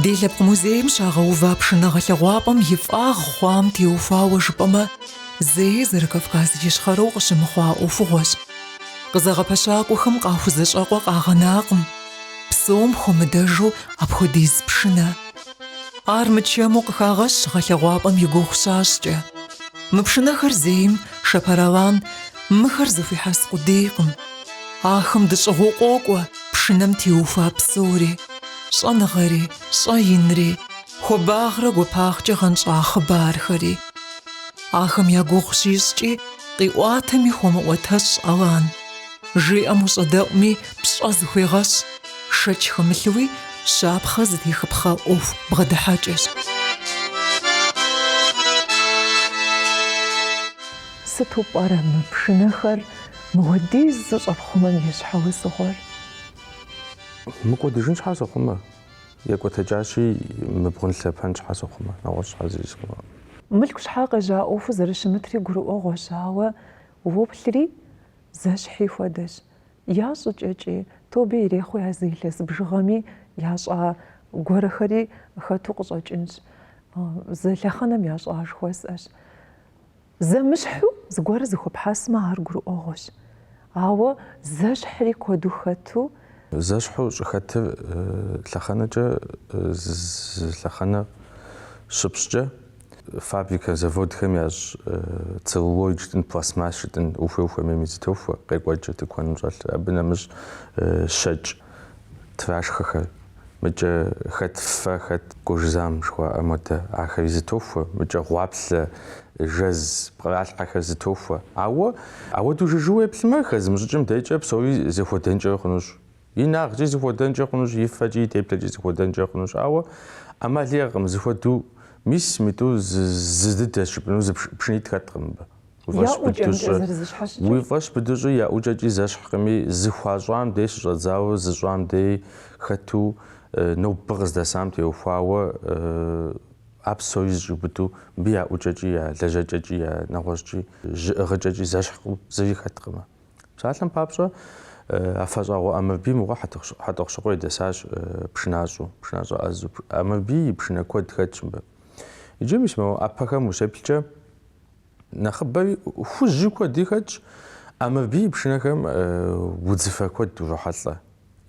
Ди лъэпкъ музейм щагъэува пшынэ гъэлъэгъуапӏэм и фӏагъ хъуам теухуауэ жыпӏэмэ, зэи Зэрыкавказ Ищхъэрэу къыщымыхъуа ӏуэхугъуэщ. Къызэгъэпэщакӏуэхэм къахузэщӏэкъуэ къагъэнакъым, псом хуэмыдэжу апхуэдиз пшынэ. Ар мычэму къыхагъэщ гъэлъэгъуапӏэм и гугъу щащӏкӏэ. Мы пшынэхэр зейм Шэпэр Алан, мыхэр зыхуихьэс къудейкъым. Ахэм дэщӏыгъуу къокӏуэ пшынэм теухуа псори, щӏэныгъэри, щӏэинри, хуабагърэ гуапагъкӏэ гъэнщӏа хъыбархэри. Ахэм я гугъу щищӏкӏи, къиӏуатэми хуэмыӏуэтэщӏ Алан. Жиӏэм ущӏэдэӏуми, пщӏэ зыхуегъэщӏ. Шэч хэмылъуи, щапхъэ зытехыпхъэ ӏуэху бгъэдыхьэкӏэщ. Сыту пӏэрэ мы пшынэхэр мыуэдиз зыщӏэпхъумэм и щхьэусыгъуэр? Мыкӏуэдыжын щхьэ сохъумэ? Екӏуэтэкӏащи, мыбгъунлъэпэн щхьэ сохъумэ? Нэгъуэщӏ щхьэ зыри сохъумэ? Мылъку щхьэ къежьа ӏуэхуу зэрыщымытри гурыӏуэгъуэщ, ауэ уоплъри, Зэщхьи хуэдэщ. Я щӏыкӏэкӏи, тобэ ирехъуи а зы илъэс бжыгъэми ящӏа гуэрэхэри хэту къыщӏэкӏынщ. Зы лъэхъэнэм ящӏа жыхуэсӏэщ. Зэмыщхьу зыгуэрэ зыхуэпхьэсмэ, ар гурыӏуэгъуэщ. Ауэ зэщхьри куэду хэту, Зэщхьу щӏыхэтыр лъэхъэнэкӏэ зы лъэхъэнэ щыпщӏкӏэ, фабрикэ, заводхэм ящӏ целлулоид жытӏэн, пластмасс жытӏэн, ухуей-ухуэмейми зытохуэ, къекӏуэкӏ тыкуэным щӏэлъыр. Абы нэмыщӏ щэкӏ трашхэхэр. Мыкӏэ хэт фэ, хэт кожзам жыхуаӏэ модэ, ахэри зытохуэ, мыкӏэ гъуаплъэ, жэз, пкъралъхьэхэр зытохуэ. Ауэ, ауэдэу жыжьэу уеплъмэ, хэзымыщӏыкӏым декӏэ псори зэхуэдэнкӏэ хъунущ. Инагъкӏи зыхуэдэнкӏэ хъунущ, и фэкӏи, и теплъэкӏи зыхуэдэнкӏэ хъунущ. Ауэ ӏэмал иӏэкъым, зыхуэдэу мис митӏу зы дыдэщ жыпӏэну, зы пшынитӏ хэткъым мыбы. Я ӏукӏэмкӏэ зэрызыщхьэщыкӏыр. Уи фӏэщ быду щӏыи я ӏукӏэкӏи зэщхькъыми, зыхуащӏам дей щыщӏэдзауэ, зыщӏам дей хэту нобэ къыздэсам теухуауэ а псори зыщӏиубыду мыбы я ӏукӏэкӏи, я лэжьэкӏэкӏи, я нэгъуэщӏкӏи, жьы ӏыгъыкӏэкӏи зэщхькъым, зыри хэткъымэ. Псалъэм папщӏэ, Афэщӏагъуэ Ӏэмырбий мыгъуэ Хьэтӏохъущыкъуей дэсащ пшынащӏэу, пшынащӏэ ӏэзу. Ӏэмырбий и пшынэ куэд хэтщ мыбы. Иджы мис мо ӏэпэхэм ущеплъкӏэ, Нэхъыбэри хужьи куэди хэтщ, Ӏэмырбий и пшынэхэм удзыфэ куэд урохьэлӏэ.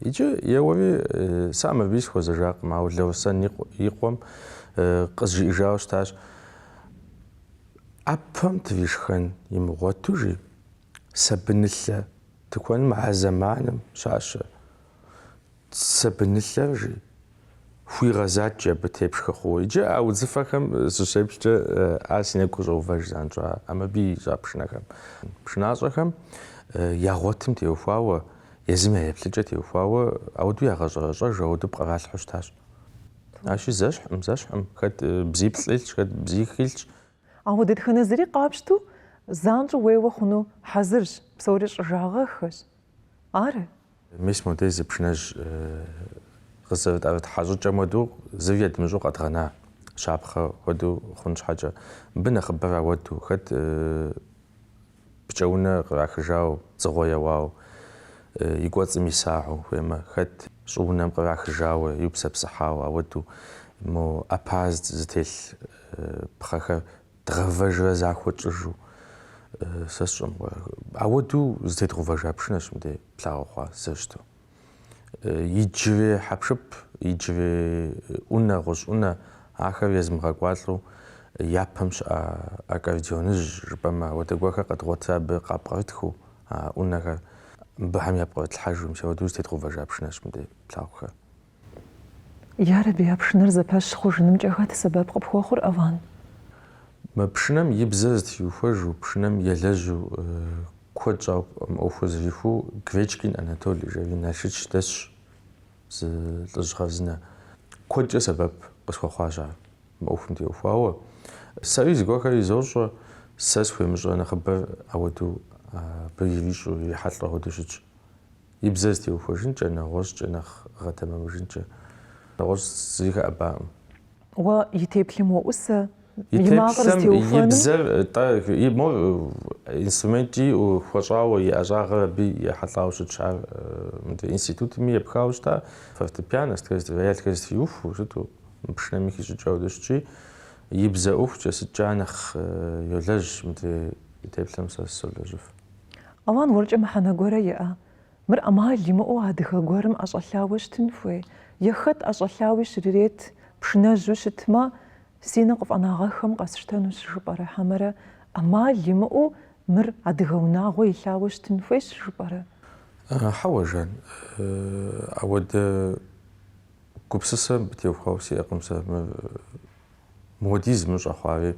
Иджы еуэри сэ Ӏэмырбий сыхуэзэжакъым, ауэ Лэусэн и къуэм къызжиӏэжауэ щытащ, ӏэпэм тришхэн имыгъуэту, жи, сабынылъэ тыкуэным а зэманым щащэ. Сабынылъэр, жи, хуигъэзатчи абы тепшхэ хъууэ. Иджы а удзыфэхэм сыщеплъкӏэ, а си нэгу къыщӏэувэж занщӏэу Ӏэмырбий ищӏа пшынэхэм. Пшынащӏэхэм я гъуэтым теухуауэ, езым я еплъыкӏэ теухуауэ ауэдэу ягъэщӏэрэщӏэж, ауэдэу пкъралъхьэу щытащ. Ащи зэщхькъым, зэщхькъым, хэт бзиплӏ илъщ, хэт бзих илъщ. Ауэ дэтхэнэ зыри къапщту занщӏэу уеуэ хъуну хьэзырщ, псори щӏыжагъэххэщ, Ары. Мис модей зы пшынэжь къызэрытӏэрыхьа щӏыкӏэм хуэдэу зыри едмыщӏэу къэдгъэна щапхъэ хуэдэу хъун щхьэкӏэ, мыбы нэхъыбэр ауэду, хэт пкӏэунэ кърахыжау, дзыгъуэ еуау, и кӏуэцӏым исагъыу, хуеймэ, хэт щӏыунэм кърахыжауэ, иупсэпсыхьау ауэду, мо ӏэпэр зытелъ пхъэхэр дгъэвэжрэ захуэ тщӏыжу сэ сщӏэм ауэдэу зытедгъэувэжа пшынэщ мыдей плъагъухэр зэрыщыту. Иджырей хьэпшып, иджырей ӏунэ, гъущӏ ӏунэ ахэр езмыгъэкӏуалӏэу япэм щыӏа аккордеоныжь жыпӏэмэ ауэдэ гуэрхэр къэдгъуэтыр абы къапкърытхыу а ӏунэхэр мыбыхэм япкърытлъхьэжу, мис ауэдэу зытедгъэувэжа пшынэщ мыдей плъагъухэр. Ярэби, а пшынэр зэпэщ хъужынымкӏэ хэт сэбэп къыпхуэхъур, Алан? Мы пшынэм и бзэр зытриухуэжу, пшынэм елэжьу куэд щӏауэ мы ӏуэхур зэрихуэу Гречкин Анатолий, жери Налшыч дэсщ зы лӏыжь хъарзынэ. Куэдкӏэ сэбэп къысхуэхъуащ ар мы ӏуэхум теухуауэ. Сэри зыгуэрхэр изощӏэ, сэ схуемыщӏэ нэхъыбэр ауэдэу абы ирищӏэу, ирихьэлӏэу ауэдэу щытщ. И бзэр зытеухуэжынкӏэ, нэгъуэщӏкӏэ нэхъ гъэтэмэмыжынкӏэ. Нэгъуэщӏ зыри хэӏэбакъым. Уэ и теплъэм уоӏусэ, и макъыр зытеухуэным? И бзэр, тӏэ, и мор инструменткӏи хуэщӏауэ, и ӏэщӏагъэр абы ехьэлӏауэ щытщ. Ар мыдэ институтми епхауэ щыта, фортепиано сытхэр, роялхэр зытриухуэу щыту, мы пшынэми хищӏыкӏыу ауэдэу щытщи, и бзэ ӏуэхукӏэ сыткӏэ ар нэхъ йолэжь, мыдрей и теплъэм сэ солэжьыф. Алан, уэркӏэ мыхьэнэ гуэрэ иӏэ? Мыр ӏэмал имыӏэу адыгэ гуэрым ӏэщӏэлъауэ щытын хуей? Е хэт ӏэщӏэлъауи щрырет, пшынэжьу щытмэ, си нэ къыфӏэнагъэххэмэ къэсщтэнущ жыпӏэрэ хьэмэрэ ӏэмал имыӏэу мыр адыгэ унагъуэ илъауэ щытын хуейщ жыпӏэрэ? Хьэуэ, Жан, ауэдэ гупсысэ абы теухуауэ сиӏэкъым сэ. Муэдиз мыщӏэ хъуари,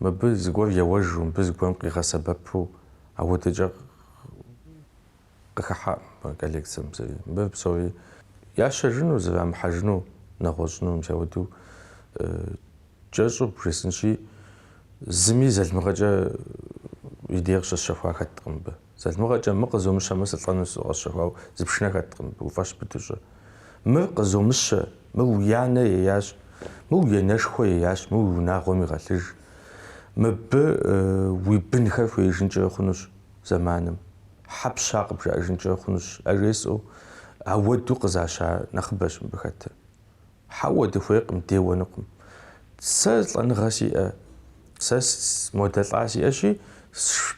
мыбы зыгуэр еуэжу, мыбы зыгуэрым къигъэсэбэпу ауэдэкӏэ къыхыхьаӏым мы коллекцэм зыри. Мыбы псори ящэжыну, зэрамыхьэжыну, нэгъуэщӏыну, мис ауэдэу кӏэщӏу бжесӏынщи, зыми залымыгъэкӏэ и дей къыщысщэхуа хэткъым мыбы. Залымыгъэкӏэ мы къызомыщэмэ сылӏэну къэсщэхуау зы пшынэ хэткъым, уфӏэщ быду щӏэ. Мыр къызомыщэ, мыр уи анэ еящ, мыр уи анэшхуэ еящ, мыр уи унагъуэм игъэлъыж. Мыбы уи бынхэр хуеижынкӏэ хъунущ зэманым, щхьэ пща къыбжаӏэжынкӏэ хъунущ, ажесӏэу ауэду къызаща нэхъыбэщ мыбы хэтыр. Хьэуэ, дыхуейкъым, деуэнукъым. Сэ лӏэныгъэ сиӏэ, сэ модэ лӏа сиӏэщи,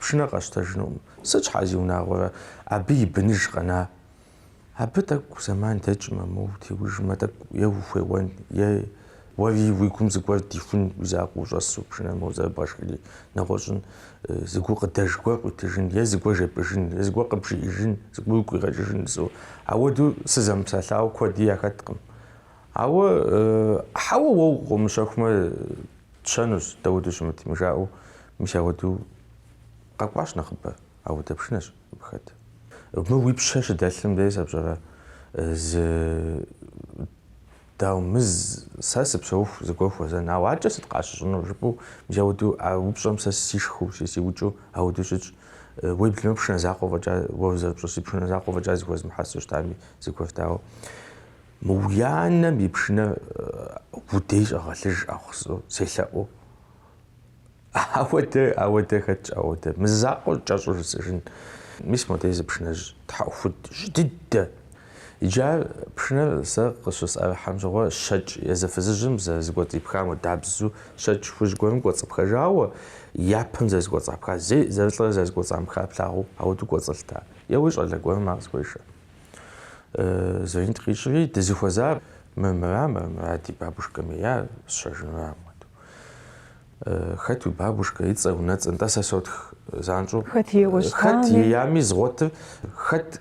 пшынэ къэсщтэжынукъым. Сыт щхьа зи унагъуэрэ, абы и быныж къэна? Абы тӏэкӏу зэман дэкӏмэ, моуэ теужмэ, тӏэкӏу е ухуеуэн, е уэри уи гум зыгуэр дихун, уи закъуэ ущӏэсу пшынэ моуэ зэрыбгъэшхри, нэгъуэщӏын, зы гукъыдэж гуэр къуитыжын, е зыгуэр жепӏыжын, е зыгуэр къыбжиӏыжын, зыгуэр уи гу къигъэкӏыжын, зо. Ауэдэу сызэмыпсэлъауэ куэди яхэткъым. Ауэ, хьэуэ, уэ къыумыщэхумэ, тщэнущ, дауэду щымытми, жаӏэу, мис ауэду къэкӏуащ нэхъыбэ, ауэдэ пшынэщ абы хэт. Мы уи пщэ щыдэлъым дей сэ пщӏэрэ, зы, дау, мыз, сэ сыпсэуху зыгуэр хуэзэн, ауэ аркӏэ сыт къащыщӏынур, жыпӏэу, мис ауэду, а упщӏэм сэ сишхыу, си сиукӏыу ауэду щытщ. Уеблэмэ пшынэ закъуэ фӏэкӏа, уэ зэрыпщӏэщи, пшынэ закъуэ фӏэкӏа зыхуэзмыхьэсу щытами, зыгуэрт, ауэ мы уи анэм и пшынэ уи дей щӏэгъэлъыж ӏэхъусу, селъэӏуу. Ауэдэ, ауэдэ хэтщ, ауэдэ. Мы закъуэр кӏэщӏу жысӏыжын. Мис модей зы пшынэжь тхьэӏухуд жьы дыдэ. Иджы ар, пшынэр, сэ къыщысӏэрыхьэм щыгъуэ, щэкӏ езы фызыжьым зэрызыкӏуэцӏипхам хуэдабзу щэкӏ хужь гуэрым кӏуэцӏыпхэжауэ, япэм зэрызыкӏуэцӏапха, зей зэрылӏэрэ зэрызыкӏуэцӏамыхар плъагъуу, ауэдэу кӏуэцӏылътэ. Еуэри щӏалэ гуэрым ар къысхуешэ. Звонит къищӏри, дызыхуэзар мыр мыра, мыр мыра, ди бабушкэм еяр, сщэжыну. Хэт уи бабушкэ, и цӏэ, унэцӏэ, нтӏэ сэ сотх занщӏэу. Хэт еями згъуэтыр, хэт.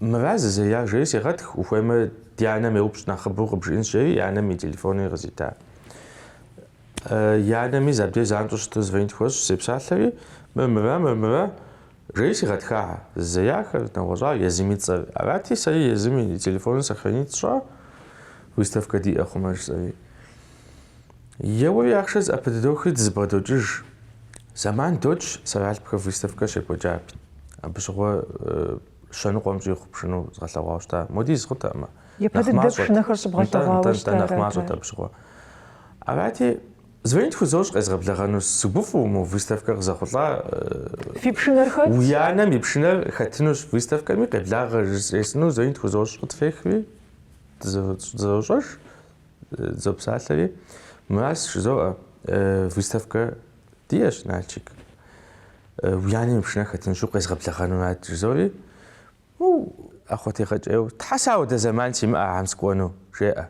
Мыра зызея, жери сегъэтх, ухуеймэ ди анэм еупщӏ нэхъыбэу къыбжиӏынщ, жери и анэм и телефони къызита. И анэми забдей занщӏэу щыту звонит хуэсщӏщ, сепсалъэри, Мыр мыра, мыр мыра? жери сигъэтха. Зызеяхэр, нэгъуэщӏар езым и цӏэр арати, сэри езым и телефоныр сохранить сщӏа, выставкэ диӏэ хъумэ жысӏэри. Еуэри ахъшэ зыӏэпыдохри дызыбгъэдокӏыж. Зэман докӏ, Сэралъпхэ выставкэ щекӏуэкӏат. Абы щыгъуэ Щэныкъуэм щӏихъу пшыну згъэлъэгъуауэ щыта. Моди зыкъутэкъымэ. Япэ Нэхъ дыдэ мащӏэт. пшынэхэр щыбгъэлъэгъуауэ Нтӏэ, нтӏэ, нтӏэ, нэхъ щытарэ, мащӏэт атэ. абы щыгъуэ. Арати, звонить хузощӏ къезгъэблэгъэну. Сыгуфӏу мы выставкэр къызэхъулӏа. э, Фи пшынэр хэт? Уи анэм и пшынэр хэтынущ выставкэми, къеблагъэ жесӏэну звонить хузощӏ къытфехри, дызэ- дызэщӏэж, э, дызопсалъэри. Мыращ жызоӏэ, э, выставкэ Диӏэщ, Налчик. Уи анэм и пшынэр хэтынщу къезгъэблэгъэнурат, жызори, ну, ӏэхъуэтегъэкӏейуэ, Тхьэ сэ ауэдэ зэман симыӏэ ахэм сыкӏуэну, жеӏэ.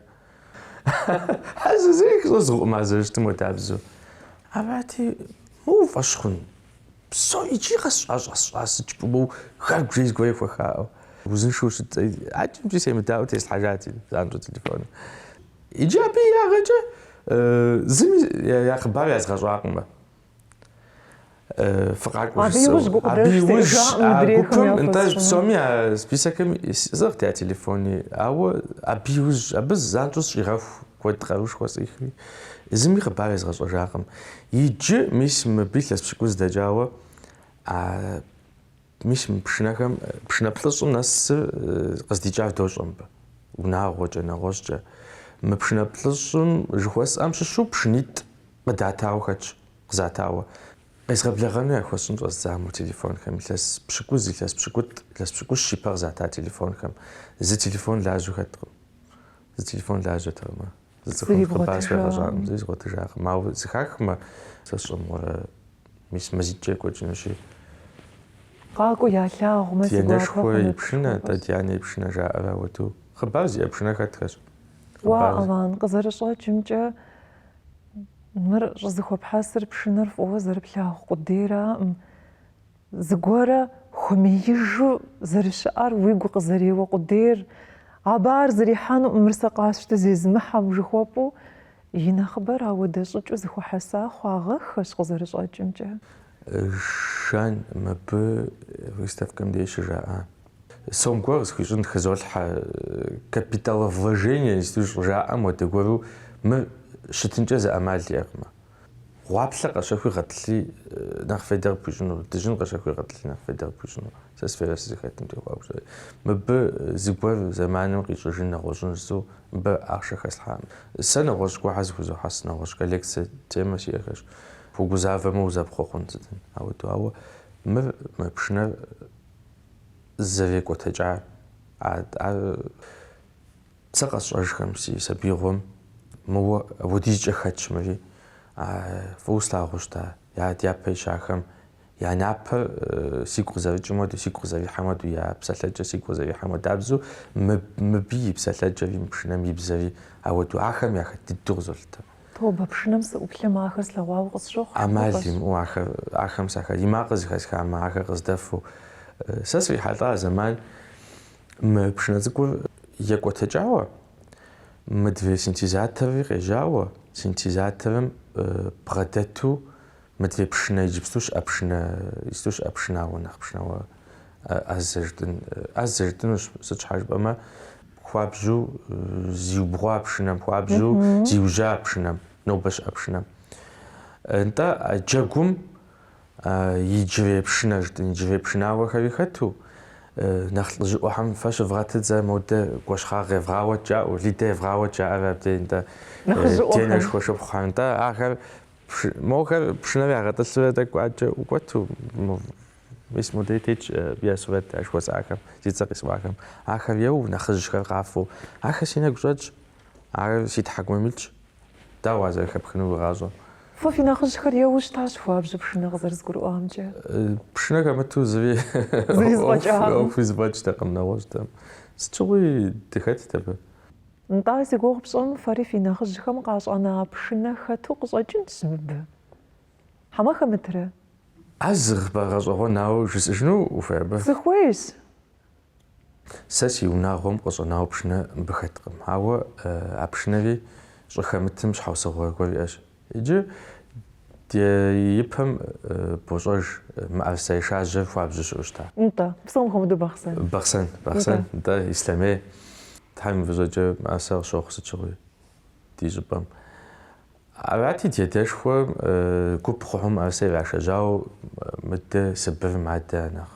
Ар зыри къыщӏызгъукъым а зэрыщытым уэдабзэу. Абати, моуэ фӏэщ хъун. Псори иджыри къэс щӏащӏэсщӏа сыдж пӏумэу хар бжей зыгуэрей хуэхаӏэу. Узыншэу щытӏ, а кӏэмкӏи семыдаӏуэу теслъхьэжати, занщӏэу телефоныр. Иджы абы и ягъэкӏэ зыми я хъыбар язгъэщӏакъымэ. Фыкъакӏуэ жысӏэу. Абы иужь гукъыдэж сиӏэжакъым мыдрейхэм яхуэсщӏыну. Нтӏэ псоми а списокыми сӏыгът я телефони, ауэ абы иужь, абы занщӏэу сщӏигъэху куэд къаруушхуэ сӏихри, зыми хъыбар езгъэщӏэжакъым. Иджы, мис, мыбы илъэс пщыкӏуз дэкӏауэ а Мис мы пшынэхэм, пшынэ плӏыщӏым нэсыр къыздикӏар дощӏэ мыбы, унагъуэкӏэ, нэгъуэщӏкӏэ. Мы пшынэ плӏыщӏым жыхуэсӏэм щыщу пшынитӏ къыдатауэ хэтщ, къызатауэ. Къезгъэблэгъэну яхуэсщӏын щӏэздза мо телефонхэм, илъэс пщыкӏуз, илъэс пщыкӏутӏ, илъэс пщыкӏущ ипэ къызата телефонхэм, зы телефон лажьэу хэткъым. Зы телефон лажьэтэкъым ар. Зы цӏыхум хъыбар схуегъэщӏакъым, зыри згъуэтыжакъым. Ауэ зыхахмэ, сэ сщӏэмыгъуэрэ, мис мазитӏкӏэ екӏуэкӏынущи. Къакӏуэу ялъагъумэ, си гуапэ хъунут. Ди анэшхуэ и пшынэ, атӏэ ди анэ и пшынэ жаӏэрэ ауэду. Хъыбар зиӏэ пшынэ хэтхэщ. Уа, Алан, къызэрыщӏэкӏымкӏэ, мыр щӏызыхуэпхьэсыр пшынэр фӏыуэ зэрыплъагъу къудейраӏым. Зыгуэрэ хуэмеижу зэрыщыӏэр уигу къызэреуэ къудейр, абы ар зэрихьэнукъым мыр сэ къасщтэ зезымыхьэм жыхуэпӏэу, и нэхъыбэр ауэдэ щӏыкӏэу зыхуэхьэса хъуагъэххэщ къызэрыщӏэкӏымкӏэ. Жан мыбы выставкэм деж щыжаӏа. Сом гуэр къысхуищӏын хызолъхьэ, капиталовложение сыт щӏыжаӏэм уэдэ гуэру мыр щытынкӏэ зы ӏэмал иӏэкъымэ. Гъуаплъэ къэщэхуи гъэтӏылъи нэхъ фейдэ къыпхуищӏыну, дыжьын къэщэхуи гъэтӏылъи нэхъ фейдэ къыпхуищӏыну, сэ сферэ сызыхэтым теухуауэ сщӏэри. Мыбы зыгуэр зэманым къищӏыжын нэгъуэщӏын жысӏэу мыбы ахъшэ хэслъхьакъым. Сэ нэгъуэщӏ гуэрхэр зыхузохьэс нэгъуэщӏ коллекцэ темэ сиӏэхэщ. Угузавэмэ узэпхъуэ хъун сытым ауэду, ауэ мыр, мы пшынэр зэрекӏуэтэкӏар, ар Сэ къэсщӏэжхэм си сабиигъуэм мыуэ апхуэдизкӏэ хэтщ мыри, фӏыуэ слъагъуу щыта я дяпэ ищахэм я напэр сигу къызэрыкӏым хуэдэу, сигу къызэрихьэм хуэдэу, я псалъэкӏэр сигу къызэрихьэм хуэдабзэу, мыбы и псалъэкӏэри, мы пшынэм и бзэри ауэдэу ахэм яхэт дыдэу къызолъытэ. Тобэ, пшынэм сыӏуплъэмэ, ахэр слъэгъуауэ къысщохъу, ӏэмал имыӏэу ахэм, ахэм я макъыр зыхэсхамэ, ахэр къыздэфу сэ срихьэлӏа зэман Мы пшынэ цӏыкӏур екӏуэтэкӏауэ мыдрей синтезаторри къежьауэ, синтезаторым бгъэдэту мыдрей пшынэ иджыпсту щыӏэ пшынэ, иджыпсту щыӏэ пшынауэ нэхъ пшынауэ ӏэзэ жытӏын, ӏэзэ жытӏынущ, сыт щхьэ жыпӏэмэ, хуабжьу зиубгъуа пшынэм, хуабжьу зиужьа пшынэм, нобэ щыӏэ пшынэм. Нтӏэ, джэгум Иджырей пшынэ жытӏын, иджырей пшынауэхэри хэту, нэхъ лӏыжьыӏуэхэм фэ щывгъэтыт зэ, модэ Гуэщхъагъ евгъауэт жаӏэу, Лидэ евгъауэт жаӏэрэ абдей нтӏэ, денэшхуэ шыпхъухэр нтӏэ, ахэр, мохэр пшынэр ягъэтӏылъурэ тӏэкӏу ӏэджэ ӏукӏуэту, мис модей тетщ я сурэт а жыхуэсӏахэм, зи цӏэр къисӏуахэм, ахэр еуэу, нэхъыжьхэр къафэу, ахэр си нэгу щӏэтщ, ар си тхьэкӏумэм илъщ. Дауэ ар зэрыхэпхыну уи гъащӏэр? Фэ фи нэхъыжьхэр еуэу щытащ хуабжьу пшынэ къызэрызгурыӏуамкӏэ. Пшынэ хэмыту зыри ӏуэхуи зэфӏэкӏтэкъым нэгъуэщӏхэм. Сыт щыгъуи дыхэтт абы. Нтӏэ, зи гугъу пщӏым фэри фи нэхъыжьхэм къащӏэна пшынэ хэту къыщӏэкӏынщ мыбы. Хьэмэ хэмытрэ? А зы хъыбар гъэщӏэгъуэн ауэ жысӏыжыну ухуей абы? Сыхуейщ. Сэ си унагъуэм къыщӏэнауэ пшынэ мыбы хэткъым, ауэ а пшынэри щӏыхэмытым щхьэусыгъуэ гуэр иӏэщ. Иджы ди ипэм бощӏэж мыӏэрысэ ешажьэр хуабжьу щыӏэу щыта? Нтӏэ, псом хуэмыдэу Бахъсэн. Бахъсэн, Бахъсэн, нтӏэ, Ислъэмей. Тхьэм и фӏыщӏэкӏэ мыӏэрысэр къыщохъу сыт щыгъуи ди щӏыпӏэм. Арати, ди адэшхуэм гуп хъухэу мыӏэрысэ ирашэжьауэ мыдэ Сыбырым адэ а нэхъ.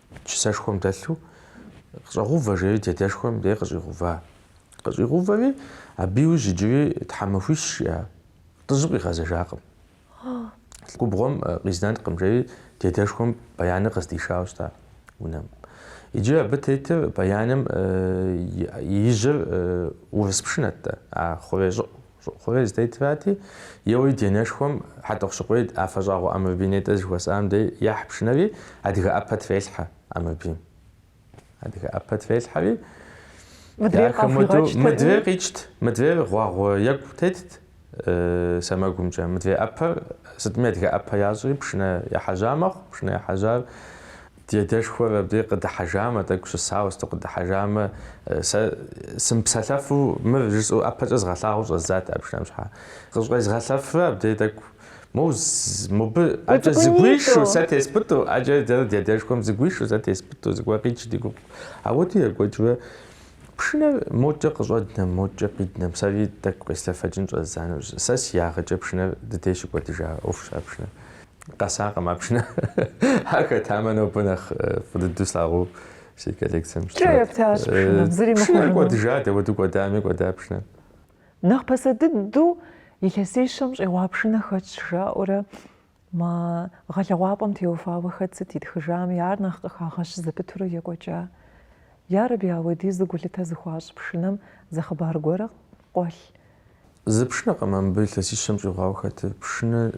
чысэшхуэм дэлъу, Къыщӏэгъувэ, жери дедэшхуэм дей къыщӏигъува. Къыщӏигъувэри, абы иужь иджыри тхьэмахуищ щыӏа, лӏыжьым къигъэзэжакъым. Губгъуэм къизнэнкъым, жери дедэшхуэм баяныр къыздишауэ щыта унэм. Иджы абы тетыр баяным и ижьыр урыс пшынэт-тӏэ, а хъурей щӏыӏу Щӏыӏу хъурей зытетырати, еуэри ди анэшхуэм Хьэтӏохъущыкъуей Афэщӏагъуэ Ӏэмырбий нетӏэ зыхуэсӏам дей ехь пшынэри, адыгэ ӏэпэ трелъхьэ Ӏэмырбийм. Адыгэ ӏэпэ трелъхьэри, ди ахэм уэду мыдрейр къикӏт, мыдрейр гъуагъуэ екӏу тетт сэмэгумкӏэ. Мыдрей ӏэпэр сытми адыгэ ӏэпэ ящӏри, пшынэ ехьэжьа мэхъу, пшынэ ехьэжьар. Ди адэшхуэр абы къыдыхьэжамэ, тӏэкӏу щысауэ сыту къыдыхьэжамэ, сэ сымыпсэлъэфу мыр жысӏэу ӏэпэкӏэ згъэлъагъуэу щӏэздзат а пшынэм щхьа. Къыщӏезгъэлъэфрэ абдей тӏэкӏу моу мобы ӏэкӏэ зэгуишу сэ теспӏытӏу, ӏэкӏэ дэрэ ди адэшхуэм зэгуишу сэ теспӏытӏу, зыгуэр къикӏу ди гугъу. Ауэдэу екӏуэкӏмэ, пшынэр мокӏэ къыщӏэднэм, мокӏэ къиднэм, сэри тӏэкӏу къеслъэфэкӏын щӏэздза нэужь, сэ си ягъэкӏэ пшынэр ди дей щыкӏуэдыжа ӏуэхущ а пшынэр. Къэсакъым а пшынэ. Ар хэтамэ, нобэ нэхъ фӏы дыдэу слъагъуу си коллекцием щытмэ. Кӏэ ептащ пшынэм, зыри мыхъуну. Пшынэр кӏуэдыжа, дауэду кӏуэдами, кӏуэда пшынэр. Нэхъ пасэ дыдэу илъэсищэм щӏигъуа пшынэ хэтщ, жаӏэурэ мы гъэлъэгъуапӏэм теухуауэ хэт сыт итхыжами, ар нэхъ къыхагъэщ зэпытурэ екӏуэкӏа. Ярэби, ауэдизу гулъытэ зыхуащӏ пшынэм зы хъыбар гуэрэ къуэлъ Зы пшынэкъым а мыбы илъэсищэм щӏигъуауэ хэтыр. Пшынэ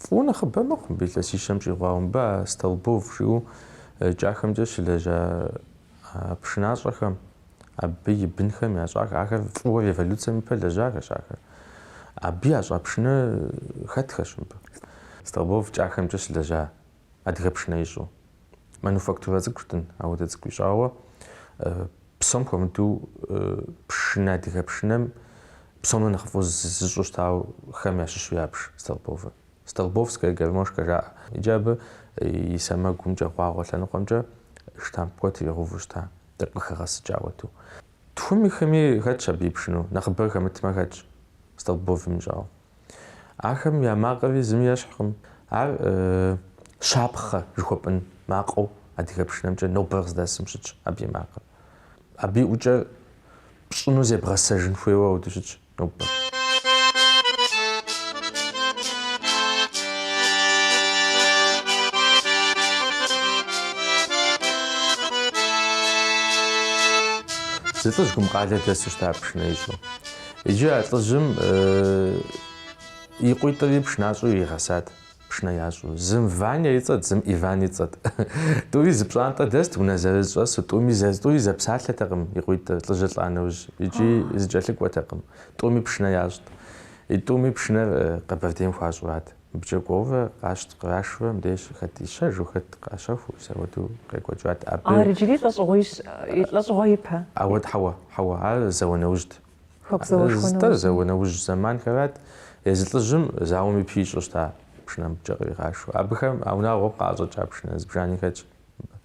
фӏыуэ нэхъыбэ мэхъу мыбы илъэсищэм щӏигъуауэ. Мыбы а Столбов жиӏэу кӏахэмкӏэ щылэжьа а пшынащӏэхэм, абы и бынхэм ящӏах. Ахэр фӏыуэ революцием ипэ лэжьахэщ ахэр. Абы ящӏа пшынэ хэтхэщ мыбы. Столбов кӏахэмкӏэ щылэжьа Адыгэ пшынэ ищӏу. Мануфактурэ цӏыкӏущтын, ауэдэ цӏыкӏу ищӏауэ. Псом хуэмыдэу пшынэ, адыгэ пшынэм псомрэ нэхъыфӏу зыщӏу щытауэхэм ящыщу ябж Столбовыр. Столбовская гармошка жаӏэ. Иджы абы и сэмэгумкӏэ, гъуагъуэ лъэныкъуэмкӏэ штамп куэд иригъэуву щыта, тӏэкӏу къыхэгъэсыкӏауэ иту. Тхуми хыми хэтщ абы и пшыну, нэхъыбэр хэмытмэ хэтщ Столбовым ищӏауэ. Ахэм я макъри зыми ещхькъым. Ар щапхъэ жыхуэпӏын макъыу адыгэ пшынэмкӏэ нобэр къыздэсым щытщ абы и макъыр. Абы и ӏукӏэр пщӏыну зебгъэсэжын хуейуэ ауэду щытщ нобэр. Зы лӏыжь Гумкъалэ дэсу щыта пшынэ ищӏу. Иджы а лӏыжьым и къуитӏри пшынащӏэу иригъэсат, пшынэ ящӏу. Зым Ваня и цӏэт, зым Иван и цӏэт. Тӏури зы пщӏантӏэ дэст, унэ зырыз щӏэсу, тӏуми зэ, тӏури зэпсалъэтэкъым и къуитӏыр, лӏыжьыр лӏа нэужь, икӏи зыкӏэлъыкӏуэтэкъым. Тӏуми пшынэ ящӏт. И тӏуми пшынэр Къэбэрдейм хуащӏурат. Мыбыкӏэ кӏуэурэ къащтэ кърашурэ мыбдеж хэт ищэжу, хэт къащэхуу, ауэду къекӏуэкӏат. Абы. Ар иджыри лӏэщӏыгъуищ, лӏэщӏыгъуэ ипэ. Ауэ, хьэуэ, хьэуэ, ар зауэ нэужьт. Хэку зауэшхуэ нэужьи. И тӏур зауэ нэужь зэманхэрат, езы лӏыжьым зауэм ипи ищӏу щыта пшынэ, мыбыкӏэ къригъашэу. Абыхэм а унагъуэм къаӏэщӏэкӏа пшынэ зыбжани хэтщ мыбы.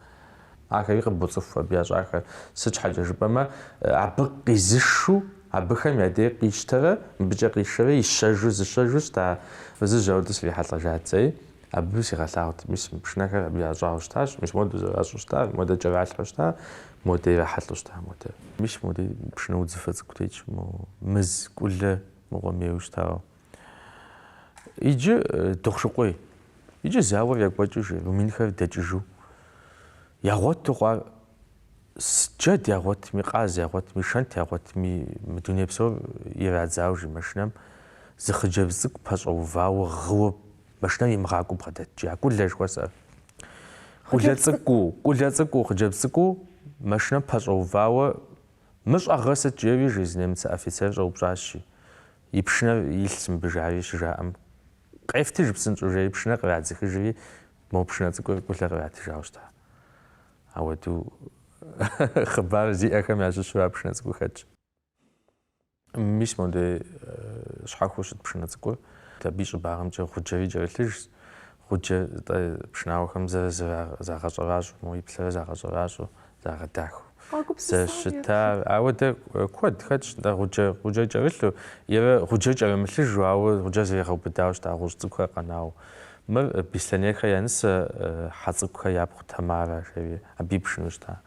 Ахэри къыбоцӏыху абы ящӏахэр, сыт щхьэкӏэ жыпӏэмэ, абы къизышу абыхэм я дей къищтэрэ мыбыкӏэ къишэрэ ищэжу зыщэжу щыта фызыжь ауэдэ срихьэлӏэжати. Абы сигъэлъагъут, мис мы пшынэхэр абы ящӏауэ щытащ, мис модэ зэращӏу щыта, модэ кӏэралъхьэу щыта, модэ ирахьэлӏэу щыта, модэ. Мис модэ пшынэ удзыфэ цӏыкӏу тетщ, мо Мыз Кӏулэ мыгъуэм ейуэ щытауэ. Иджы Дохъушыкъуей, иджы зауэр екӏуэкӏыу жи румынхэр дэкӏыжу, ягъуэту хъуар джэд ягъуэтми, къаз ягъуэтми, шэнт ягъуэтми, мы дуней псор ирадзау жи машинэм зы хъыджэбз цӏыкӏу пэщӏэувауэ гъыуэ Машинэм имыгъакӏуэу бгъэдэтщи, а Кӏулэ жыхуэсӏэр. Кӏулэ цӏыкӏуу, Кӏулэ цӏыкӏуу, хъыджэбз цӏыкӏуу машинэм пэщӏэувауэ, Мыр щӏэгъыр сыт? жери, жи зы немыцэ офицер щӏэупщӏащи, и пшынэр илъщ мыбы, жари щыжаӏэм, Къефтыж псынщӏэу, жери пшынэр кърадзыхыжри, мо пшынэ цӏыкӏур Кӏулэ къратыжауэ щыта. Ауэду хъыбар зиӏэхэм ящыщу а пшынэ цӏыкӏур хэтщ. Мис модей щхьэхуэу щыт пшынэ цӏыкӏур, абы и щӏыбагъымкӏэ гъуджэри кӏэрылъыжщ. Гъуджэ нтӏэ пшынауэхэм зэрызагъэщӏэращӏэу, мо иплъэрэ загъэщӏэращӏэу, загъэдахэу зэрыщытар. Ауэдэ куэд хэтщ нтӏэ гъуджэ, гъуджэр кӏэрылъу ерэ гъуджэр кӏэрымылъыжу, ауэ гъуджэр зэригъэубыдауэ щыта гъущӏ цӏыкӏухэр къэнауэ. Мыр Бислъэнейхэр я нысэ, Хьэцӏыкӏухэр япхъу Тамарэ жери, абы и пшынэу щыта.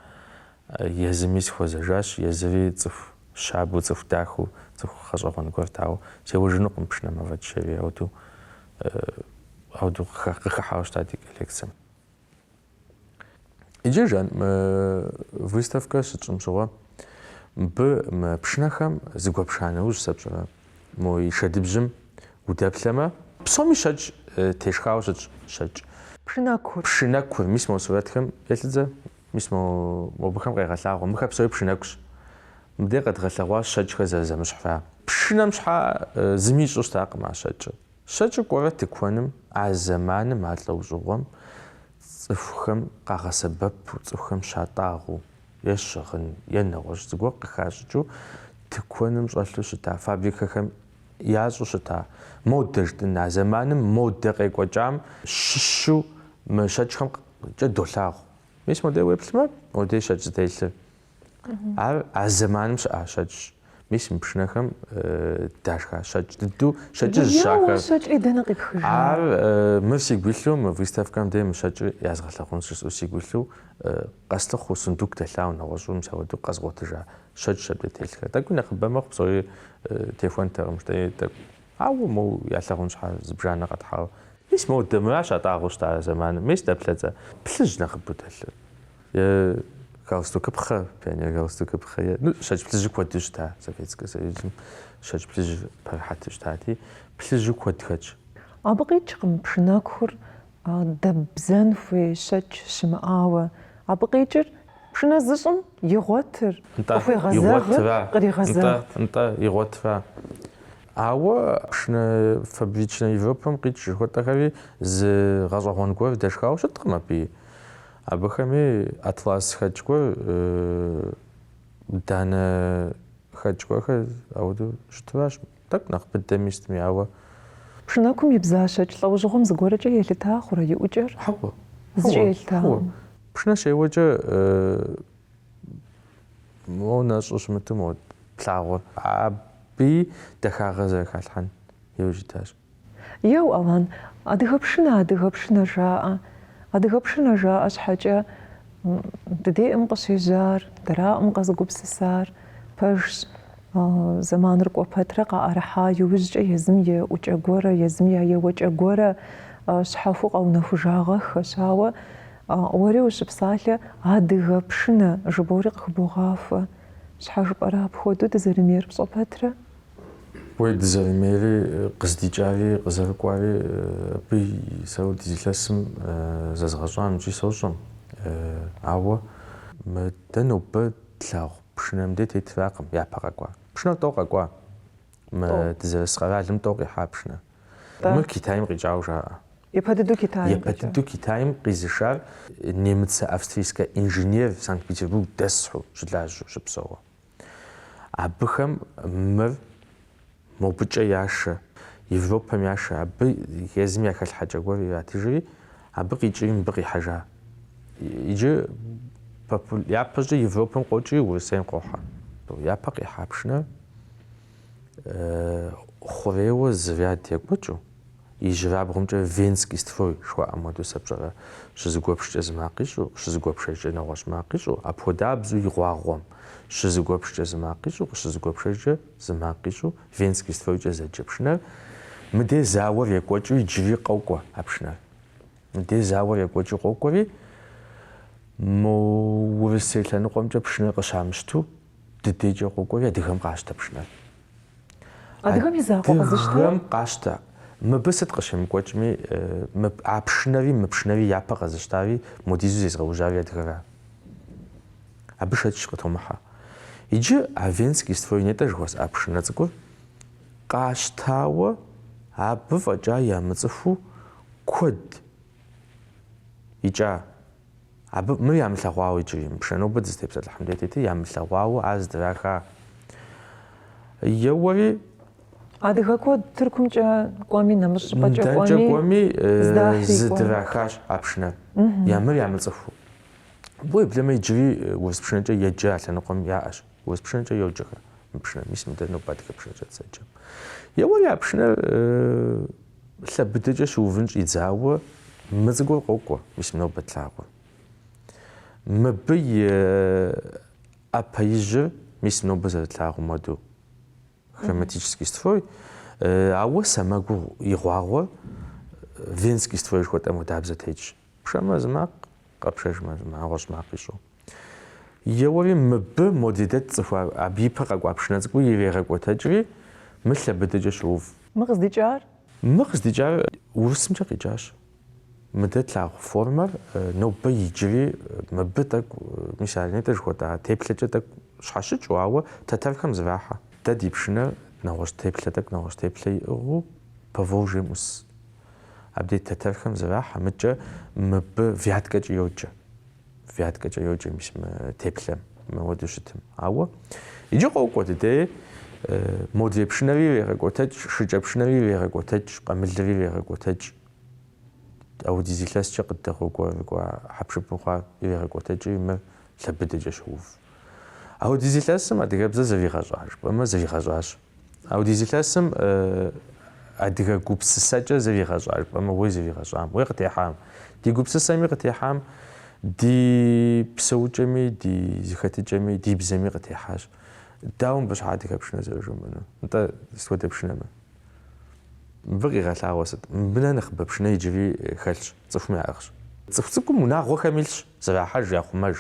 Езыми сыхуэзэжащ, езыри цӏыху щабэу, цӏыху дахэу, цӏыху гъэщӏэгъуэн гуэрт, ауэ сеуэжынукъым пшынэм афӏэкӏ жери, ауэдэу, ауэдэу къыхыхьауэ щыта ди коллекцэм. Иджы жан мы выставкэр щытщӏым щыгъуэ, мыбы мы пшынэхэм зэгуэпша нэужь сэ пщӏэрэ, мо и шэдыбжьым удэплъэмэ, псоми щэкӏ тешхауэ щытщ, щэкӏ. Пшынэкур. Пшынэкур, мис мо сурэтхэм еплъыт зэ. Мис мо мобыхэм къегъэлъагъуэ, мыхэр псори пшынэкущ. Мыбдеж къэдгъэлъэгъуащ щэкӏхэр зэрызэмыщхьыр. Пшынэм щхьа зыми ищӏу щытакъым а щэкӏыр. Щэкӏыр кӏуэрэ тыкуэным, а зэманым а лӏэужьыгъуэм цӏыхухэм къагъэсэбэпу, цӏыхухэм щатӏагъэу, е щыгъын, е нэгъуэщӏ зыгуэр къыхащӏыкӏыу тыкуэным щӏэлъу щыта фабрикэхэм ящӏу щыта модэ жытӏын, а зэманым модэ къекӏуэкӏам щыщу мы щэкӏхэм кӏэ долъагъу. Мис модей уеплъмэ, модей щэкӏ зытелъыр. Ар а зэманым щыӏа щэкӏщ. Мис мы пшынэхэм дашха щэкӏ дыдэу щэкӏыжьщ ахэр. щэкӏри дэнэ къипхыжа? Ар э, мыр сигу илъу, мы выставкэм дей мы щэкӏыр язгъэлъэгъунщ жысӏэу сигу илъу, э, къэслъыхъуэу, сундук дэлъауэ нэгъуэщӏу мис апхуэдэу къэзгъуэтыжа щэкӏщ абдей телъхэр. Тӏэкӏуи нэхъыбэ мэхъу, псори э, техуэнтэкъым, жыдэи тӏэкӏу. Ауэ моу ялъэгъун щхьа зыбжанэ къэтхьауэ? Мис моу дэ мыращ атӏагъуэу щыта зэманым. Мис дэ плъэцӏэ? Плъыжь нэхъыбэу дэлъыр. Е галстукыпхъэ, пионер галстукыпхъэ, е, ну, щэкӏ плъыжьу куэду щыта Советскэ Союзым. Щэкӏ плъыжь пэрыхьэту щытати, плъыжьу куэд хэтщ. Абы къикӏкъым пшынэкур дэббзэн хуей щэкӏ щымыӏауэ. Абы къикӏыр Пшынэ зыщӏым игъуэтыр, къыхуегъэзэгъыр къригъэзэгът. Нтӏэ, игъуэтра. Ауэ пшынэ фабричнэ Европэм къикӏ жыхуэтӏэхэри зы гъэщӏэгъуэн гуэр дэшхауэ щыткъым абыи. Абыхэми атлас хэкӏ гуэр, данэ хэкӏ гуэрхэр ауэдэу щытыращ. Тӏэкӏу нэхъ быдэми щытми, ауэ. Пшынэкум ибза щэкӏ лӏэужьыгъуэм зыгуэркӏэ елъыта хъурэ и ӏукӏэр? Хьэуэ. Зыкӏи елъытакъым. Пшынэ щеуэкӏэ моуэ нэщӏу щымыту моуэ плъагъуэр. Абыи дахагъэ зэрыхалъхьэн иужь итащ. Еу, Алан, адыгэ пшынэ, адыгэ пшынэ жаӏэ. Адыгэ пшынэ жаӏэ щхьэкӏэ ди деӏым къыщежьар, дэраӏым къэзыгупсысар пэжщ. Зэманыр кӏуэ пэтрэ къаӏэрыхьа иужькӏэ езым я ӏукӏэ гуэрэ, езым я еуэкӏэ гуэрэ щхьэхуэу къэунэхужагъэххэщ. Ауэ уэри ущыпсалъэ адыгэ пшынэ жыбоӏэри къыхыбогъахуэ. Щхьэ жыпӏэрэ апхуэдэу дызэрымейр пщӏэ пэтрэ? Уей дызэрымейри къыздикӏари къызэрыкӏуари абы сэ ауэдиз илъэсым зэзгъэщӏам икӏи сощӏэм. Ауэ мы дэ нобэ тлъагъу пшынэ мыдей тетыракъым япэ къэкӏуа. Пшынэр тӏэу къэкӏуа. Мы дызэрыс къэралым тӏэу къихьа пшынэр. Мыр Китайм къикӏауэ жаӏэ. Япэ дыдэу Китайм къизышар немыцэ-австрийскэ инженер Санкт-Петербург дэсу щылажьэу щыпсэуэ. Абыхэм мыр мобыкӏэ яшэ, Европэм яшэ. Абы езым я хэлъхьэкӏэ гуэр иратыжри, абы къикӏри мыбы къихьэжа. Иджы япэщӏыкӏэ Европэм къокӏри Урысейм къохьэ. Япэ къихьа пшынэр хъурейуэ зы ряд екӏуэкӏыу, Ижьырабгъумкӏэ Венский строй жыхуаӏэм хуэдэу сэ пщӏэрэ, щызэгуэпшкӏэ зы макъ ищӏу, щызэгуэпшэжкӏэ нэгъуэщӏ макъ ищӏу, апхуэдабзу и гъуагъуэм, щызэгуэпшкӏэ зы макъ ищӏу, къыщызэгуэпшэжкӏэ зы макъ ищӏу, Венский стройкӏэ зэджэ пшынэр, мыдей зауэр екӏуэкӏыу иджыри къокӏуэ а пшынэр. Мыдей зауэр екӏуэкӏыу къокӏуэри, мо Урысей лъэныкъуэмкӏэ пшынэр къыщамыщту, дыдекӏэ къокӏуэри адыгэм къащтэ пшынэр. Адыгэм и закъуэ къэзыщтэ? Адыгэм къащтэ. Мыбы сыт къыщемыкӏуэкӏми, а пшынэри, мы пшынэри япэ къэзыщтари, модизу зезгъэужьари адыгэра. Абы шэч къытомыхьэ. Иджы а Венский строй нетӏэ жыхуэсӏа пшынэ цӏыкӏур къащтауэ абы фӏэкӏа ямыцӏыхуу куэд икӏа Абы мыр ямылъэгъуауэ иджыри, мы пшынэ нобэ дызытепсэлъыхь мыдей тетыр ямылъэгъуауэ ар здраха. Еуэри. Адыгэ куэд Тыркумкӏэ кӏуэми, нэмыщӏ щӏыпӏэкӏэ кӏуэми. Дэнкӏэ кӏуэми зыдрахащ а пшынэр, я мыр ямыцӏыхуу. Абы уеблэмэ иджыри урыс пшынэкӏэ еджэ а лъэныкъуэм яӏэщ. Урыс пшынэкӏэ йоджэхэ мы пшынэр, мис мыдэ нобэ адыгэ пшынэкӏэ дызэджэм. Еуэри а пшынэр лъэ быдэкӏэ щыувын щӏидзауэ мы цӏыкӏур къокӏуэ, мис нобэ тлъагъур. Мыбы и ӏэпэ ижьыр, мис нобэ зэрытлъагъум уэду, хроматический строй, ауэ сэмэгу и гъуагъуэ венский строй жыхуэтӏэм хуэдабзэ тетщ, пшэмэ зы макъ, къэпшэжмэ зы нэгъуэщӏ макъ ищӏу. Еуэри мыбы мо дыдей тцӏыху, абы и пэ къэкӏуа пшынэ цӏыкӏур ирегъэкӏуэтэкӏри, мыр лъэбыдэкӏэ щоув. Мы къыздикӏар? Мы къыздикӏар урысымкӏэ къикӏащ. Мыдэ тлъагъу формэр нобэ иджыри мыбы тӏэкӏу, мис ар нетӏэ жыхуэтӏа, теплъэкӏэ тӏэкӏу щхьэщыкӏыу, ауэ тэтэрхэм зэрахьэ. Дэ ди пшынэр нэгъуэщӏ теплъэ тӏэкӏу нэгъуэщӏ теплъэ иӏыгъыу Поволжьем ӏус. Абдей тэтэрхэм зэрахьэ, мыкӏэ мыбы вяткэкӏэ йоджэ. Вяткэкӏэ йоджэ мис мы теплъэм, мыуэду щытым. Ауэ иджы къокӏуэ дыдей, модрей пшынэри ирегъэкӏуэтэкӏ, шыкӏэпшынэри ирегъэкӏуэтэкӏ, къамылри ирегъэкӏуэтэкӏ, аудиз илъэскӏэ къыддэгъуэгурыкӏуа хьэпшыпу хъуар ирегъэкӏуэтэкӏри мыр лъэбыдэкӏэ щоув. Аудиз илъэсым адыгэбзэр зэригъэщӏа жыпӏэмэ, зэригъэщӏащ. Аудиз илъэсым адыгэ гупсысэкӏэ зыригъэщӏа жыпӏэмэ уей зыригъэщӏам, уей къытехьам, ди гупсысэми къытехьам, ди псэукӏэми, ди зэхэтыкӏэми, ди бзэми къытехьащ. Дауэ мыбы щхьа адыгэ пшынэ зэрыжумыӏэну? Нтӏэ, сыт хуэдэ пшынэ? Мыбы къигъэлъагъуэ сыт? Мыбы нэхъ нэхъыбэ пшынэ иджыри хэлъщ, цӏыхум яӏыгъщ. Цӏыху цӏыкӏум унагъуэхэм илъщ. Зэрахьэж яхъумэж.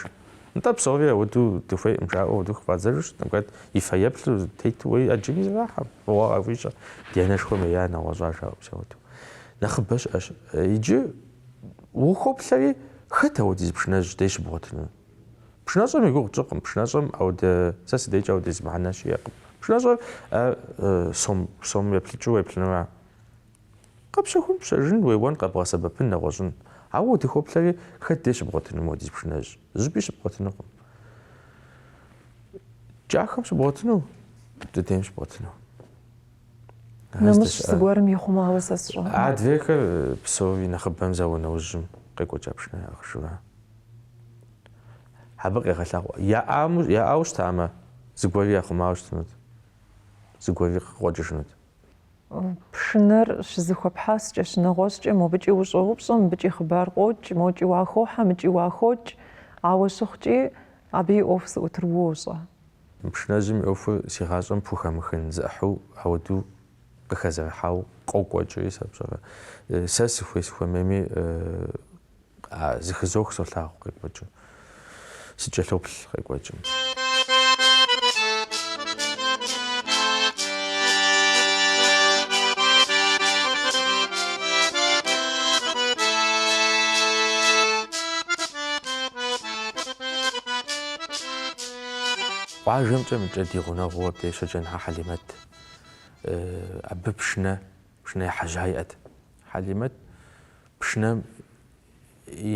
Нтӏэ, псори ауэдэу дыхуейкъым жаӏэу ауэдэу хыфӏадзэжу щыӏэми, хэт и фэеплъу тету уэи ӏэджэми зэрахьэ, фӏыгъуэ къахуищӏэ, ди анэшхуэм ея, нэгъуэщӏа жаӏэу мис ауэдэу. Нэхъыбэ щыӏэщ. Иджы ухуоплъэри, хэт ауэдиз пшынэжь дей щыбгъуэтыну? Пшынэщӏэм и гугъу тщӏыкъым, пшынэщӏэм ауэдэ, сэ сыдейкӏэ ауэдиз мыхьэнэ щиӏэкъым. Пшынэщӏэр сом еплъыкӏыу уеплъынура? Къэпщэхун пщэжын уеуэн къэбгъэсэбэпын нэгъуэщӏын. Ауэ удыхоплъэри, хэт дей щыбгъуэтыну модиз пшынэжь? Зыпӏи щыбгъуэтынукъым. Кӏахэм щыбгъуэтыну? Дыдейм щыбгъуэтыну. Нэмыщӏ зыгуэрым ихъумауэ сэ сщӏэ. Адрейхэр псори нэхъыбэм зауэ нэужьым къекӏуэкӏа пшынэ хъужа. Абы къегъэлъагъуэ. Яӏауэ щытамэ, зыгуэри яхъумауэ щытынут. Зыгуэри къыкъуэкӏыжынут. Пшынэр щызыхуэпхьэскӏэ, щынэгъуэщӏкӏэ, мобыкӏи ущӏоупщӏэ, мыбыкӏи хъыбар къокӏ, мокӏи уахохьэ, мыкӏи уахокӏ, ауэ щыхъукӏи, абы и ӏуэху зыӏутыр уощӏэ. Пшынэжьым и ӏуэхур си гъащӏэм пхухэмыхын зы ӏыхьу ауду къыхэзэрыхьау къокӏуэкӏри, сэ пщӏэрэ, сэ сыхуей-сыхуэмейми, Зыхызох солъагъу къекӏуэкӏым. Сыкӏэлъоплъ къекӏуэкӏым. Къуажэмкӏэ мыкӏэ ди гъунэгъуу абдежкӏэ Ныхьэ Хьэлимэт. Абы пшынэ Пшынэ ехьэжьа иӏэт. Хьэлимэт пшынэм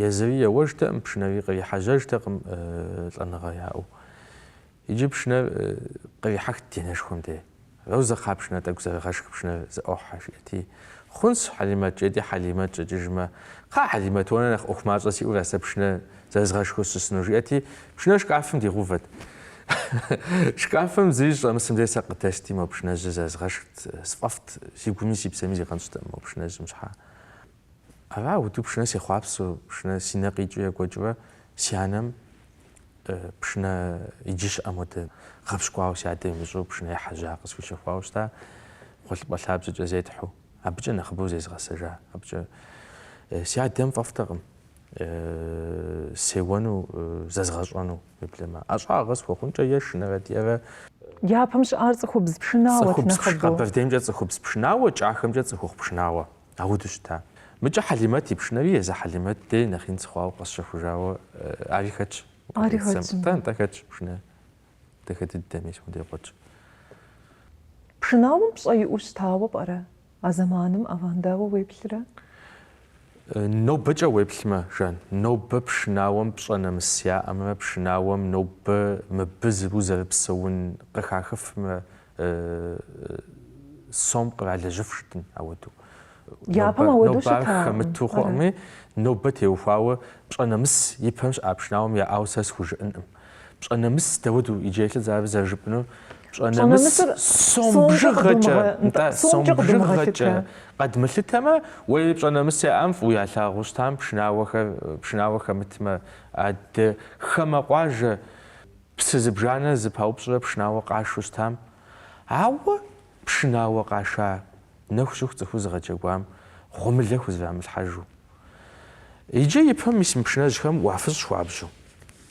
езыри еуэжтэкъым, пшынэри кърихьэжьэжтэкъым лӏэныгъэ яӏэу. Иджы пшынэр кърихьэхт ди анэшхуэм де. Розэ, кхъа, пшынэ тӏэкӏу зэрыгъэшх пшынэр зэӏохьэ, жиӏэти. Хъунщ, Хьэлимэт, жиӏэти, Хьэлимэт щӏэкӏыжмэ, Кхъыӏэ, Хьэлимэт, уэ нэхъ ӏуэху мащӏэ сиӏэу ара сэ пшынэ Зэзгъэшхыу сыщысыну, жиӏэти, пшынэр шкафым дигъувэт. Шкафым зыри щӏэмысым дей сэ къыдэсхти, мо пшынэжьыр зэзгъэшхт, сфӏэфӏт, си гуми си псэми зигъэнщӏтэкъым мо пшынэжьым щхьэ. Ара ауду пшынэ сехъуапсэу, пшынэ си нэ къикӏыу екӏуэкӏыурэ си анэм пшынэ иджы щыӏэм хуэдэ гъэпщкӏуауэ си адэм имыщӏэу пшынэ ехьэжьа къысхуищэхуауэ щыта, гъуэлъыпӏэ лъабжьэкӏэ зетхьу, абыкӏэ нэхъыбэу зезгъэсэжа, абыкӏэ си адэм фӏэфӏтэкъым. Сеуэну, зэзгъэщӏэну уеблэмэ. ӏэщӏагъэ схуэхъункӏэ е шынэрэ диэрэ. Япэм щыӏар цӏыхубз пшынауэт Цӏыхубз пш, нэхъыбэу. Къэбэрдеймкӏэ цӏыхубз пшынауэ, кӏахэмкӏэ цӏыхухъу пшынауэ. Ауду щыта. Мыкӏэ Хьэлимэт и пшынэри езы Хьэлимэт дей нэхъ ин сыхъуауэ къэсщэхужауэ ари хэтщ. Ари хэтщ. Нтӏэ, нтӏэ хэтщ пшынэ. дахэ дыдэми си къудей куэдщ. Пшынауэм пщӏэ иӏэу щытауэ пӏэрэ а зэманым ӏэван дауэ уеплърэ? Нобэкӏэ уеплъмэ, Жан, нобэ пшынауэм пщӏэ нэмыс яӏэмэ, пшынауэм нобэ мыбы зыру зэрыпсэун къыхахыфмэ, сом къралэжьыф щытын ауэду. Япэм ауэду щытакъым. Нобэ ар хэмыту хъуӏыми, нобэ теухуауэ пщӏэ нэмыс ипэм щыӏа пшынауэм яӏауэ сэ схужыӏэнкъым. Пщӏэ нэмыс дауэду иджы елъыдз ар зэрыжыпӏэнур? Пщӏэ нэмыс сом бжыгъэкӏэ, нтӏэ, сом бжыгъэкӏэ къэдмылъытэмэ, уей пщӏэ нэмыс яӏам фӏыуи ялъагъуу щытам, пшынауэхэр, пшынауэ хэмытмэ, адэ, хамэ къуажэ. Псы зыбжанэ зыпаупщӏрэ пшынауэ къашу щытам? Ауэ пшынауэ къаша нэху щыху цӏыхур зыгъэджэгуам гъуэмылэ хузэрамылъхьэжу. Иджы ипэ мис мы пшынэжьхэм уафыщӏ хуабжьу.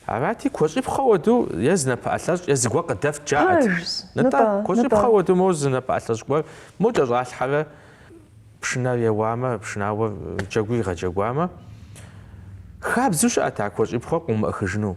Арати, куэщӏипхъуэ хуэдэу е зы напэӏэлъэщӏ, е зыгуэр къыдэфт жаӏэт. Нтӏэ, куэщӏипхъуэ хуэдэу моуэ зы напэӏэлъэщӏ гуэр, мо кӏэщӏалъхьэрэ пшынэр еуамэ, пшынауэр джэгур игъэджэгуамэ, хабзэу щыӏэт а куэщӏипхъуэр къыумыӏыхыжыну.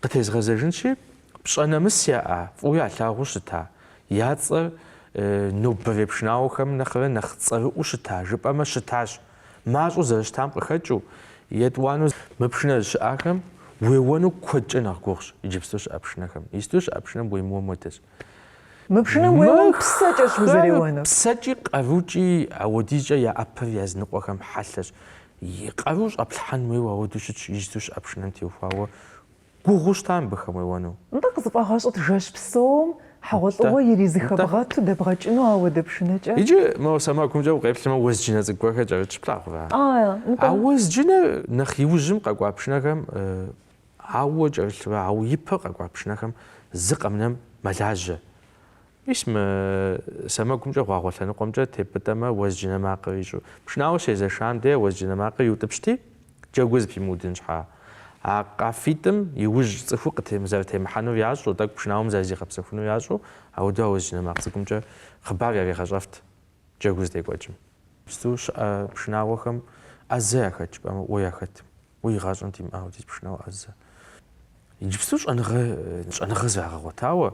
Къытезгъэзэжынщи, пщӏэ нэмыс яӏа, фӏыуэ ялъагъуу щыта, я цӏэр нобэрей пшынауэхэм нэхърэ нэхъ цӏэрыӏуу щыта жыпӏэмэ, щытащ. Мащӏэу зэрыщытам къыхэкӏыу, етӏуанэу. Мы пшынэжь щыӏахэм уеуэну куэдкӏэ нэхъ гугъущ иджыпсту щыӏэ пшынэхэм. Иджыпсту щыӏэ пшынэм уемыуэм хуэдэщ. Мы пшынэм уеуэм псэкӏэщ узэреуэнур. Псэкӏи къарукӏи ауэдизкӏэ я ӏэпэр языныкъуэхэм хьэлъэщ. И къару щӏэплъхьэн хуейуэ ауэдэу щытщ, иджыпсту щыӏэ пшынэм теухуауэ гугъуу щыта мыбыхэм уеуэну? Нтӏэ, къызыфӏэгъэщӏыт жэщ псом хьэгъуэлӏыгъуэ иризыхэбгъэту дэбгъэкӏыну ауэдэ пшынэкӏэ? Иджы мо сэмэгумкӏэ укъеплъмэ, уэзджынэ цӏыкӏу гуэрхэр кӏэрытщ, плъагъурэ? Ае, нтӏэ. А уэзджынэр нэхъ иужьым къэкӏуа пшынэхэм ауэ кӏэрылъурэ, ауэ ипэ къэкӏуа пшынэхэм зы къэмынэм мэлажьэ. Мис мы сэмэгумкӏэ гъуагъуэ лъэныкъуэмкӏэ тепӏытӏэмэ, уэзджынэ макъыр ищӏу. Пшынауэ щезэшам де уэзджынэ макъыр иутӏыпщти, джэгур зыпимыудын щхьа. А къафитӏым и ужь цӏыхур къызэрытемыхьэнур ящӏэу, тӏэкӏу пшынауэм зэрызигъэпсэхунур ящӏэу, ауэду а уэзджынэ макъ цӏыкӏумкӏэ хъыбар яригъэщӏэфт джэгур зытекӏуэкӏым. Иджыпсту щыӏэ пшынауэхэм ӏэзэ яхэт жыпӏэмэ, уэ яхэт. Уэ игъащӏэм димыӏауэ диӏэ пшынауэ ӏэзэ. Иджыпсту щӏэныгъэ щӏэныгъэ зрагъэгъуэтауэ,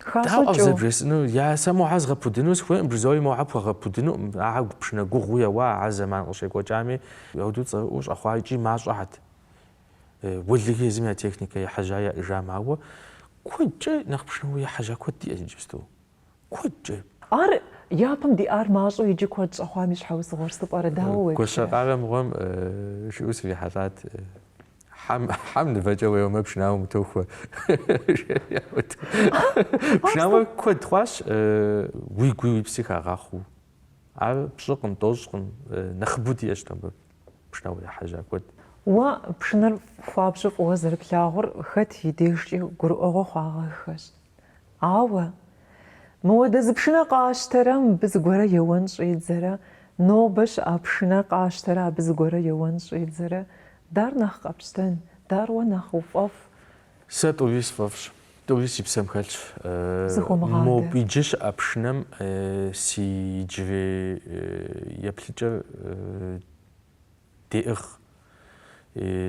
Дауэ къызэбжесӏэну? Я сэ мохьэ згъэпудыну сыхуейкъым, бжызоӏи мохьэ пхуэгъэпудынукъым. Ахьэ пшынэ гугъуу еуа, а зэман къыщекӏуэкӏами, ауэду цӏэрыӏуэу щӏэхъуа икӏи мащӏэхьэт. Улыг езым я техникэ ехьэжьа яӏыжам, ауэ куэдкӏэ нэхъ пшынауэ ехьэжьа куэд диӏэщ иджыпсту. Куэдкӏэ. Ар япэм диӏар мащӏэу иджы куэд щӏэхъуам и щхьэусыгъуэр сыт пӏэрэ, дауэ уеплърэ? Гуащэкъарэ мыгъуэм жиӏэу срихьэлӏат. Хьэм, хьэм нывэкӏэ уеуэмэ, пшынауэ утохуэ. Пшынауэ куэд хъуащ, уигуи уи пси хагъахъуу. Ар пщӏыкъым, тӏощӏкъым, нэхъыбэу диӏэщ абы пшынауэ ехьэжьа куэд. Уэ пшынэр хуабжьу фӏыуэ зэрыплъагъур хэт и дежкӏи гурыӏуэгъуэ хъуагъэххэщ. Ауэ, мыуэдэ зы пшынэ къащтэрэ мыбы зыгуэрэ еуэн щӏедзэрэ, нобэ щыӏэ пшынэ къащтэрэ абы зыгуэрэ еуэн щӏедзэрэ, дар нэхъ къэпщтэн, дар уэ нэхъ уфӏэфӏ. Сэ тӏури сфӏэфӏщ, тӏури си псэм хэлъщ. Мобы иджы щыӏэ пшынэм си иджырей еплъыкӏэр деӏыгъ.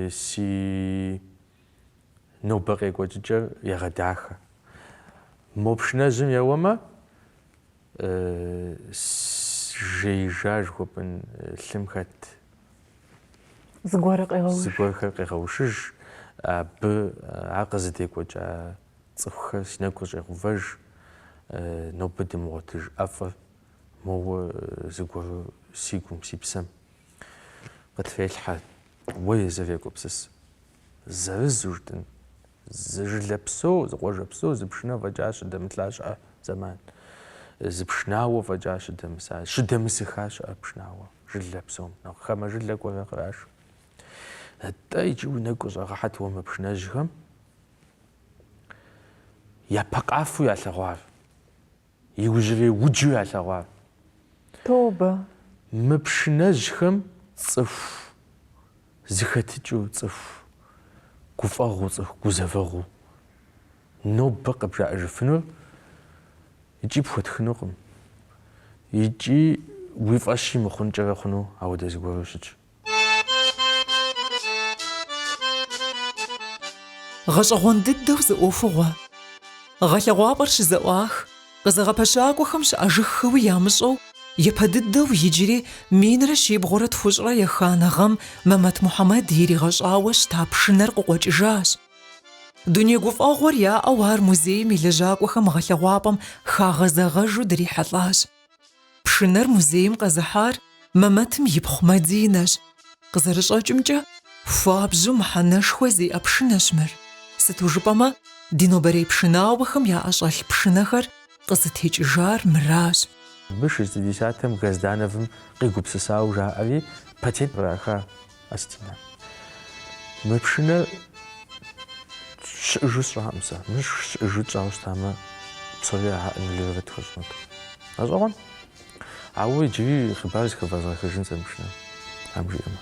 Си. Нобэ къекӏуэкӏыкӏэр егъэдахэ. Мо пшынэжьым еуэмэ, жеижа жыхуэпӏын лъым хэт зыгуэрхэр къегъэушыж, абы ар къызыдекӏуэкӏа цӏыхухэр си нэгу къыщӏегъэувэж, нобэ дымыгъуэтыж ӏэфӏыр моуэ зыгуэру си гум, си псэм. Къытрелъхьэ, уэ езыр егупсыс. Зырызу жытӏын, зы жылэ псо, зы къуажэ псо, зы пшынэ фӏэкӏа щыдэмылъа щыӏэ зэман, зы пшынауэ фӏэкӏа щыдэмыса, щыдэмысыха щыӏэ пшынауэ, жылэ псом, нэхъ хамэ жылэ кӏуэрэ кърашу. Атӏэ иджы уи нэгу къыщӏэгъэхьэт уэ мы пшынэжьхэм япэ къафэу ялъэгъуар. иужьрей уджу ялъэгъуар. Тобэ. Мы пшынэжьхэм цӏыху зыхэтыкӏыу, цӏыху гуфӏэгъуэу, цӏыху гузэвэгъуэу нобэ къыбжаӏэжыфынур икӏи пхуэтхынукъым, икӏи уи фӏэщи мыхъункӏэрэ хъуну ауэдэ зыгуэру щытщ. Гъэщӏэгъуэн дыдэу зы ӏуэхугъуэ. Гъэлъэгъуапӏэр щызэӏуах, къызэгъэпэщакӏуэхэм щыӏэжыххэуи ямыщӏэу, япэ дыдэу иджыри минрэ щибгъурэ тхущӏрэ еханэ гъэм Мэмэт Мухьэмэд иригъэщӏауэ щыта пшынэр къыкъуэкӏыжащ. Дуней гуфӏэгъуэр яӏэу ар музейм и лэжьакӏуэхэм гъэлъэгъуапӏэм хагъэзэгъэжу дрихьэлӏащ. Пшынэр музейм къэзыхьар Мэмэтым ипхъу Мадинэщ. Къызэрыщӏэкӏымкӏэ, хуабжьу мыхьэнэшхуэ зиӏэ пшынэщ мыр. Сыту жыпӏэмэ, ди нобэрей пшынауэхэм яӏэщӏэлъ пшынэхэр къызытекӏыжар мыращ. Абы шестидесятым Газдановым къигупсысауэ жаӏэри, патент къраха. Астинэ. Мы пшынэр щыӏыжу сщӏакъым сэ. Мыр щыӏыжу тщӏауэ щытамэ, псори аннулировать тхуэщӏынут. Гъэщӏэгъуэн? Ауэ иджыри хъыбар зыхэвэзгъэхыжын сэ мы пшынэм. Ам жиӏэмэ.